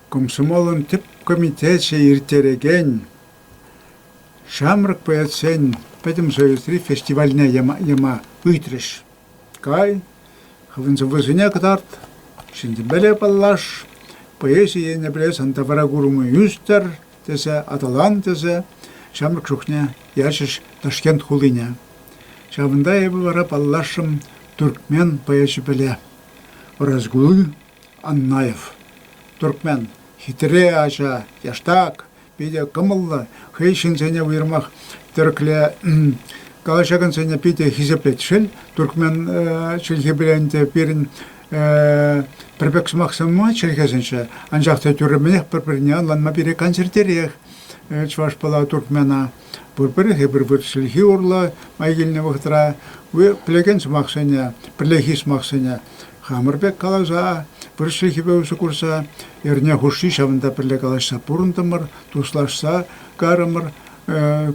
Комсомолӑн тӗп комитечӗ ирттерекен Ҫамрӑк поэтсен пӗтӗм союзри фестивальне яма ыйтрӗҫ. Кай, хӑвӑн сӑввӑсене кӑтарт, ҫӗнтӗмӗре паллаш, поэзи енӗпе сан тавра курӑму ӳстӗр, тесе аталан тесе ҫамрӑк чухне ячӗҫ Ташкент хулине. Ҫавӑнта эпӗ вара паллашрӑм туркмен поэчӗпеле Разгулы Аннаев. Туркмен хитре ача, яштак, питӗ кӑмӑллӑ, хӑй ҫынсене уйрӑмах тӗрӗкле калаҫакансене питӗ хисеплет. Шел, туркмен чӗлхипе ӗнтӗ пирӗн пӗр пек сӑмахсем мар чӗлхесенче, анчах та тӳрремӗнех пӗр-пӗрне ӑнланма пире кансӗртерех Чӑваш Пӑла туркмена. Пурпӗрех пӗр-пӗр чӗлхи урлӑ май килнӗ вӑхӑтра пӗлекен сӑмахсене, пӗрлехи сӑмахсене хамӑр пек каласа, пӗр чӗлхепе усӑ курса, эрне хушши ҫавӑнта пӗрле калаҫса пурӑнтӑмӑр, туслашса карӑмӑр.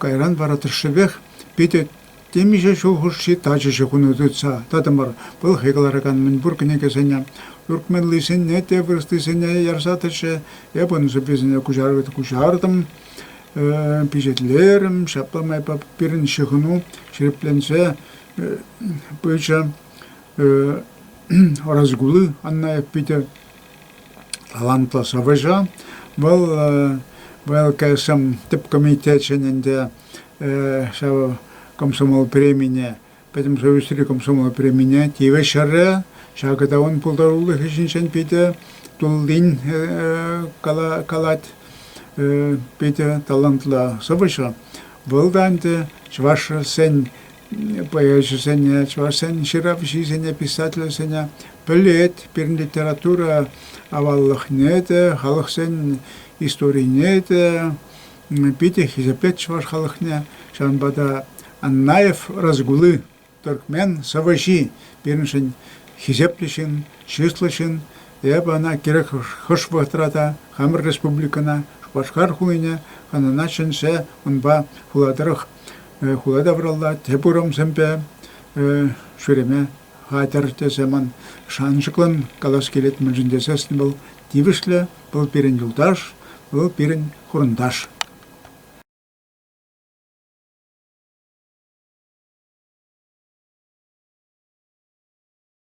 Кайран вара тӑршшӗпех питӗ Темиҫе ҫул хушши тачӑҫӑ кунӗ тытса тӑтӑмӑр. Пӑлхи кӑларакан мӗнпур кӗнекесене, туркменлисене те, вырӑслисене ярса тӑчӗ. Эп ун сӑввисене куҫартӑм, пичетлерӗм. Ҫапла майпа пирӗн ҫыхӑну ҫирӗпленсе пычӗ. Разгулы Анна Экпите талантлӑ сӑвӑҫӑ. Вӑл ВЛКСМ тӗп комитечӗн ӗнтӗ ҫав комсомол премине, Пӗтӗм Союзри комсомол премине тивӗҫрӗ. Ҫакӑ та ун пултарулӑхӗ ҫинчен питӗ туллин калать, питӗ талантла сӑвӑҫӑ. Вӑл та ӗнтӗ чӑвашсен поэчӗсене, чӑвашсен ҫыравҫисене, писательсене пӗлет. Пирӗн литература аваллӑхне те, халӑхсен историне те, Питӗ хисеплет чӑваш халӑхне. Ҫавӑнпа та Аннаев Разгулы, тӗркмен сӑвӑҫи, пирӗншӗн хисеплӗ ҫын, чыслӑ ҫын. Эпӗ ӑна кирек хӑш вӑхӑтра та, хамӑр республикӑна, Шупашкар хулине, хӑнана чӗнсе унпа хула тӑрӑх, хула тавралла тӗп урамсемпе ҫӳреме хатӗр тесе ман шанчӑклӑн калас килет, мӗншӗн тесен вӑл тивӗҫлӗ Вӑл пирӗн юлташ, вӑл пирӗн хурӑнташ.